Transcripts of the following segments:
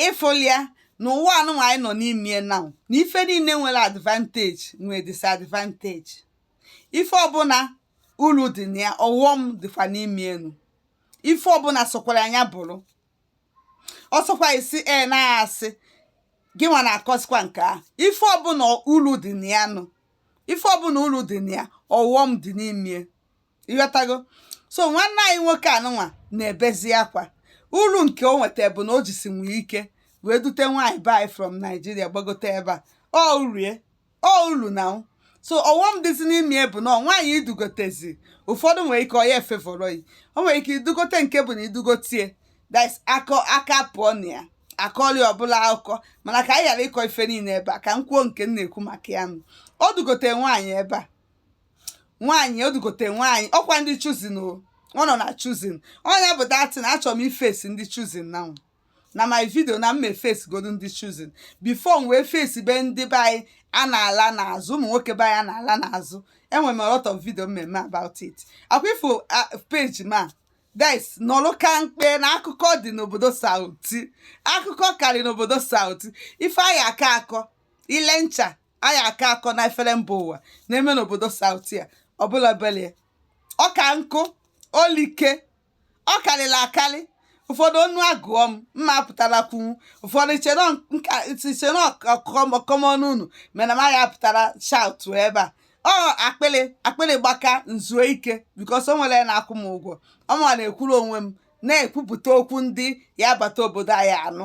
ịfụlịa na ụwa anụnwa anyị nọ n'ime ya na na ife niile nwere advantage nwere disadvantage ife ọbụla uru dị na ya ọghọm dịkwa n'ime ya nụ ife ọbụla sokwara anya bụrụ ọ sọkwa isi e na-asị gị nwa na-akọsikwa nke a ife ọbụla uru dị na ya nụ ife ọbụla uru dị na ya ọghọm dị n'ime ị ghọtago so nwanne anyị nwoke anụnwa na-ebezi akwa uru nke o nweta bụ na o jisi nwee ike wee dute nwaanyị be anyị from Nigeria gbagote ebe a ọ uru ya ọ uru na anwụ so ọghọm dịzi n'ime ya bụ na nwaanyị i dugotezi ụfọdụ nwere ike ọ ya e-favour yi o nwere ike idugote nke bụ na i dugote ya that's akọ aka pụọ na ya akọli ọbụla akụkọ mana ka anyị ghara ịkọ ife niile ebe a ka m kwuo nke m na-ekwu maka ya nụ o dugote nwaanyị ebe a nwaanyị o dugote nwaanyị ọkwa ndị Chosen o ọ nọ na Chosen ọ nya bụ that thing achọrọ m i-face ndị Chosen na na my video na m e-face godu ndị Chosen before m wee face be ndị be anyị a na-ala n'azụ ụmụ nwoke be anyị a na-ala n'azụ enwere m a lot of video m me-eme about it ọkwa ị fụ page m a that's nọlụ ka mkpe na akụkọ dị n'obodo South akụkọ karị n'obodo South ife anyị aka akọ ile ncha anyị aka akọ na efere mba ụwa na-eme n'obodo South a ọbụla belie ọka nkụ o like ọ karịrị akarị ụfọdụ ọnụ agụọ m m ma-apụtara kwunwu ụfọdụ chere ọkọmọnụ unu mana m ya-apụtara shout ebe a ọ akpịrị akpịrị gbaka nzuo ike because o nwere na-akwụ m ụgwọ ọ m na-ekwuru onwe m na-ekwupụta okwu ndị ya bata obodo anyị a nụ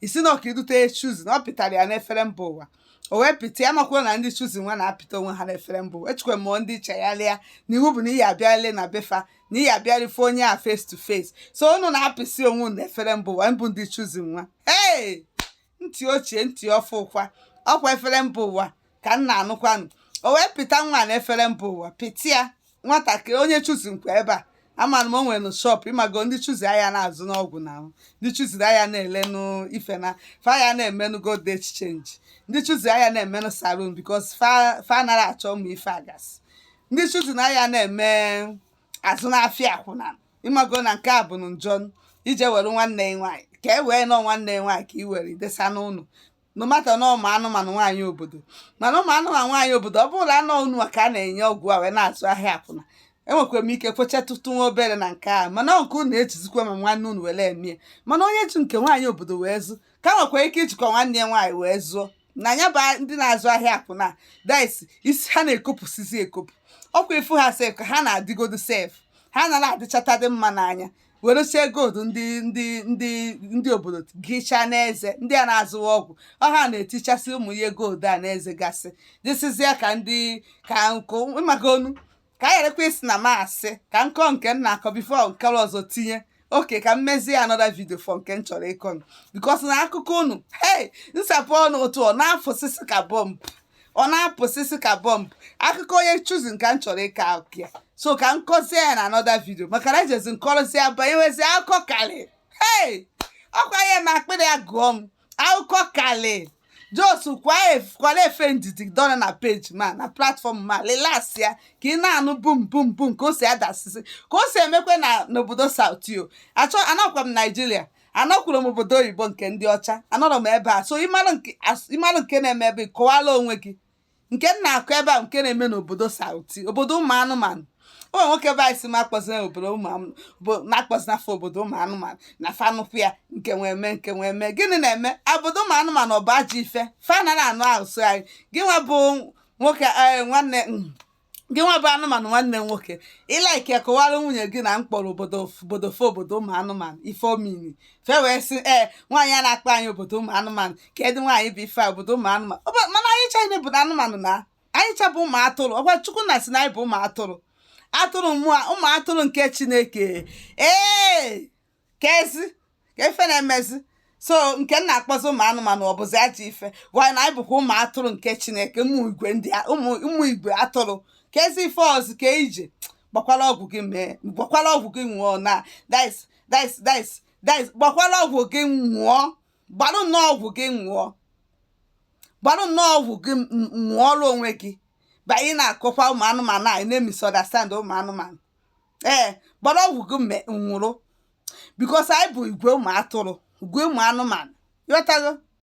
isi na ọka idute Chosen na ọ pịtara ya n'efere mba ụwa o wee pịta ya maka na ndị Chosen nwa na-apịta onwe ha n'efere mba ụwa echekwa m ndị chegharịa na iwu bụ na ị ya-abịarịlị na be fa na ị ya-abịarị fụ onye a face to face so unu na-apịsị onwe unu n'efere mba ụwa bụ ndị Chosen nwa ee ntị ochie ntị ọfụ ụkwa ọkwa efere mba ụwa ka m na-anụkwanụ o wee pịta nwa na efere mba ụwa pịta ya nwatakịrị onye Chosen kwa ebe a amara m o nwere shop ị mago ndị Chosen a ya na-azụnụ ọgwụ na ahụ ndị Chosen a ya na-elenụ ife na fa ya na-emenụ gold exchange ndị Chosen a ya na-emenụ salon because fa fa nara achọ ụmụ ife a ga-asị ndị Chosen na a ya na-eme azụ n'afịa akwụna ị mago na nke a bụ njọ i je were nwanne ya nwaanyị ka i were nụ nwanne ya nwaanyị ka i were desa n'ụlọ no matter na ụmụ anụmanụ nwaanyị obodo mana ụmụ anụmanụ nwaanyị obodo ọ bụrụ anọ unu ka a na-enye ọgwụ a wee na-azụ ahịa akwụna enwekwara m ike kwechatụtụ nwa obere na nke a mana nke unu ejizikwa ma nwanne unu were eme ya mana onye ji nke nwaanyị obodo wee zụ ka nwekwara ike ijikwa nwanne ya nwaanyị wee zụọ na ya bụ ndị na-azụ ahịa akwụna that's isi ha na-ekopụsizi ekopụ ọkwa ifu ha sef ka ha na-adịgodo sef ha nara adịchata dị mma n'anya weresie gold ndị ndị ndị ndị obodo gịchaa n'eze ndị a na-azụwa ọgwụ ọ ha na-etichasị ụmụ ihe gold a n'eze gasị dịsịzịa ka ndị ka nkụ ị magonu ka a gharakwa isi na m asị ka m kọọ nke m na-akọ before nke ọzọ tinye okay ka m mezie another video for nke m chọrọ ịkọ because na akụkọ unu hei m sapụ ọnụ otu ọ na-afụsịsị ka bọmbụ ọ na-apụsịsị ka bọmbụ akụkọ onye Chosen ka m chọrọ ịka akụkọ ya so ka m kọzie ya na another video maka na ejezi m kọrọzi ya banye wezi akụkọ kalị hei ọ kwa ihe ma akpịrị ya gụọ m akụkọ kalị just kwala efe ndidi dọrọ na page m a na platform m a relax ya ka ị na-anụ bum bum bum ka o si adasịsị ka o si emekwe na n'obodo South o anọkwa m Nigeria anọkwuru m obodo oyibo nke ndị ọcha anọrọ m ebe a so ị mara nke as- ị mara nke na-eme ebe kọwara onwe gị nke m na-akọ ebe a nke na-eme n'obodo South obodo ụmụ anụmanụ o nwere nwoke be anyị sị m akpọzina obodo ụmụ anụ- obo- na-akpọzina fa obodo ụmụ anụmanụ na fa nụpụ ya nke nwee mee nke nwee mee gịnị na-eme obodo ụmụ anụmanụ ọ bụ ajọ ife fa nara anụ ahụ so anyị gị nwa bụ nwoke ee, nwanne mm, gị nwa bụ anụmanụ nwanne m nwoke ị like ya kọwara nwunye gị na m kpọrọ obodo obodo fa obodo ụmụ anụmanụ ife o mean fa wee sị ee nwaanyị a na-akpọ anyị obodo ụmụ anụmanụ kedi nwaanyị bụ ife a obodo ụmụ anụmanụ Ọ bụ- mana anyị cha bụ anụmanụ na anyị cha bụ ụmụ atụrụ ọ kwa chukwu na-asị na anyị bụ ụmụ atụrụ atụrụ mmụọ ụmụ atụrụ nke chineke ee kezi ka ife na-emezi so nke m na-akpọzi ụmụ anụmanụ ọ bụzi ajọ ife ọ kwa na anyị bụkwa ụmụ atụrụ nke chineke ụmụ igwe ndị a- ụmụ ụmụ igwe atụrụ kezi ife ọzọ ka ị je gbakwala ọgwụ gị mee gbakwala ọgwụ gị nwụọ na dis dis dis dis gbakwala ọgwụ gị nwụọ gbarụ nnọọ ọgwụ gị nwụọ gbarụ nnọọ ọgwụ gị m- m- nwụọrọ onwe gị ba ị na-akọkwa ụmụ anụmanụ ị na-emisunderstand ụmụ anụmanụ ee gbara ọgwụ gị mme nwụrụ because anyị bụ igwe ụmụ atụrụ igwe ụmụ anụmanụ ị ghọtago